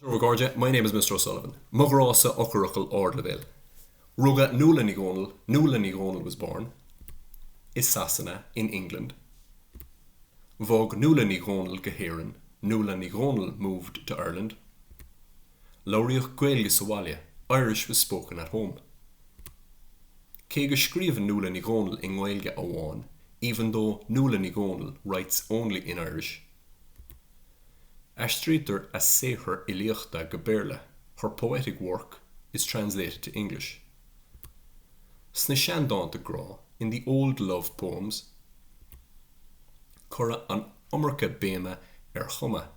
Bonjour a chairde, my name is Mr O'Sullivan. Mo ghrá-sa eochairfhocal ardleibhéil. Rugadh Nuala Ní Dhomhnaill Nuala Ní Dhomhnaill was born i Sasana in England Bhog Nuala Ní Dhomhnaill go hÉirinn Nuala Ní Dhomhnaill moved to Ireland Labhraíodh Gaeilge sa bhaile Irish was spoken at home Cé go scríobhann Nuala Ní Dhomhnaill i nGaeilge amháin Even though Nuala Ní Dhomhnaill writes only in Irish Aistrítear a saothair fhilíochta go Béarla, her poetic work is translated to English. Sna seandánta grá, in the old love poems, cuireadh an iomarca béime ar chuma,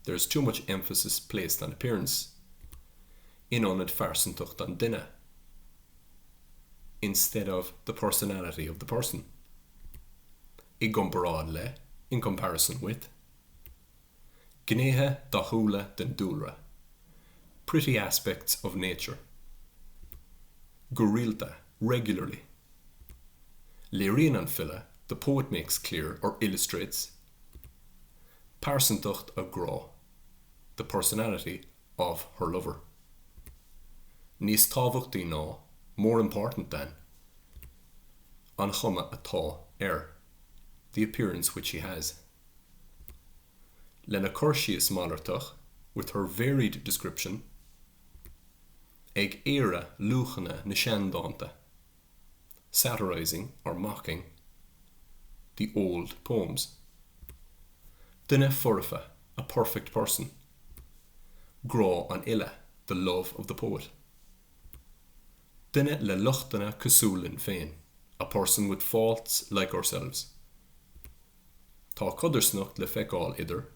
there is too much emphasis placed on appearance, in ionad phearsantacht an duine, instead of the personality of the person. i gcomparáid le, in comparison with. Gnéithe dathúla den dúlra, pretty aspects of nature. Go rialta, regularly. Léiríonn an file, the poet makes clear, or illustrates, pearsantacht a grá, the personality of her lover. Níos tábhachtaí ná, more important than. An chuma atá air, the appearance which she has. Lena cur síos malartach, with her varied description. Ag aoradh luachanna na seandhánta. satirizing or mocking the old poems duine foirfe a perfect person grá an fhile the love of the poet duine le lochtanna cosúil linn féin a person with faults like ourselves. Tá codarsnacht le feiceáil idir,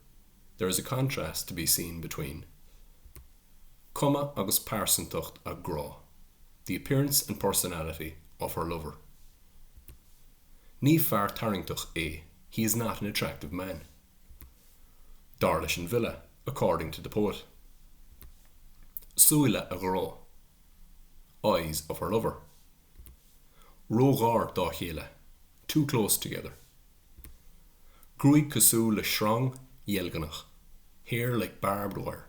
there is a contrast to be seen between cuma agus pearsantacht a grá, the appearance and personality of her lover. Ní fear tarraingteach é, he is not an attractive man. Dar leis an bhfile, according to the poet. Súile a grá, eyes of her lover. Ró-ghar dá chéile, Too close together, gruaig cosúil le sreang dheilgneach. Hair like barbed wire,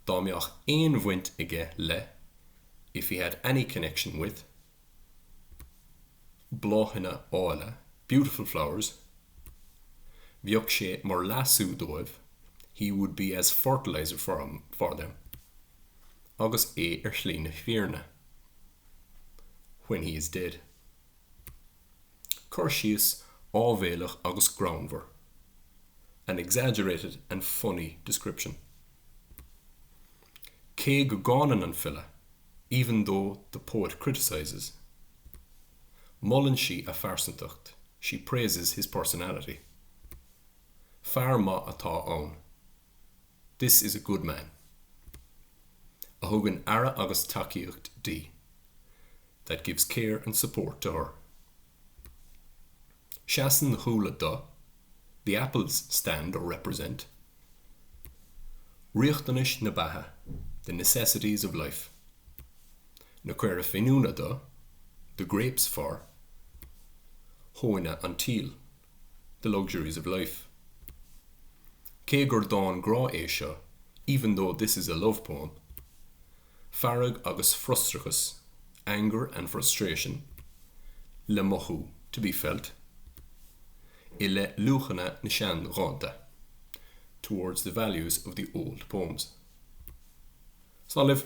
dá mbeadh aon bhaint aige le. If he had any connection with, bláthanna áille. Beautiful flowers, bheadh sé mar leasú dóibh. He would be as fertiliser for them, agus é ar shlí na fírinne. when he is dead. Cur síos áibhéileach agus greannmhar, an exaggerated and funny description. Cé go gcáineann an file, even though the poet criticises, molann sí a phearsantacht, she praises his personality. Fear maith atá ann. This is a good man. a thugann aire agus tacaíocht di, that gives care and support to her. Seasann na húlla do, the apples stand or represent, riachtanais na beatha, the necessities of life. na caora finiúna do, the grapes for, thóin an tsíl. The Luxuries of Life. Cé gur dán grá é seo, Even though this is a love poem, fearg agus frustrachas, anger and frustration, le mothú, to be felt, i leith luachanna na seandhánta, towards the values of the old poems. Slán libh!